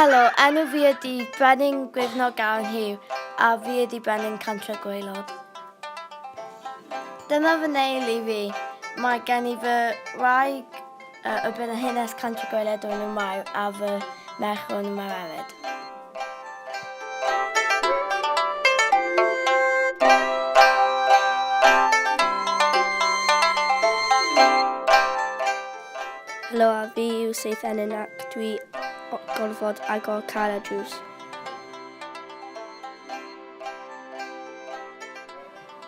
Helo, enw fi ydi Brenin Gwyrnog Aran Hugh a fi ydi Brenin Cantra Gwaelod. Dyna fy neulu fi. Mae gen i fy wraig A y bydd y hanes Cantri Goeledd Dwyn y Mair a fy merch hwn yn marered. Helo a fi yw Seith Enyn ac dwi gorfod agor car a drws.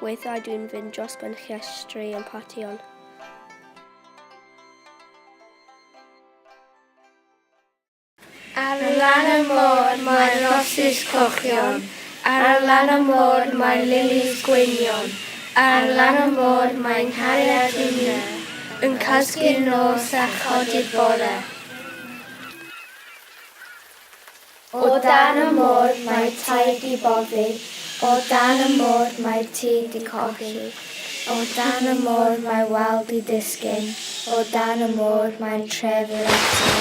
Weithiau dwi'n fynd dros ben llestri yn partïon. Ar lan y môr mae rosys cochion, Ar lan y môr mae lilis gweinion, Ar lan y môr mae nghariad Ina Yn cysgu'r nos a chodi'r bore. O dan y môr mae'r tai 'di boddi, o dan y môr mae'r tŷ 'di colli, o dan y môr mae wal 'di disgyn, o dan y môr mae'r tref i'r atyr.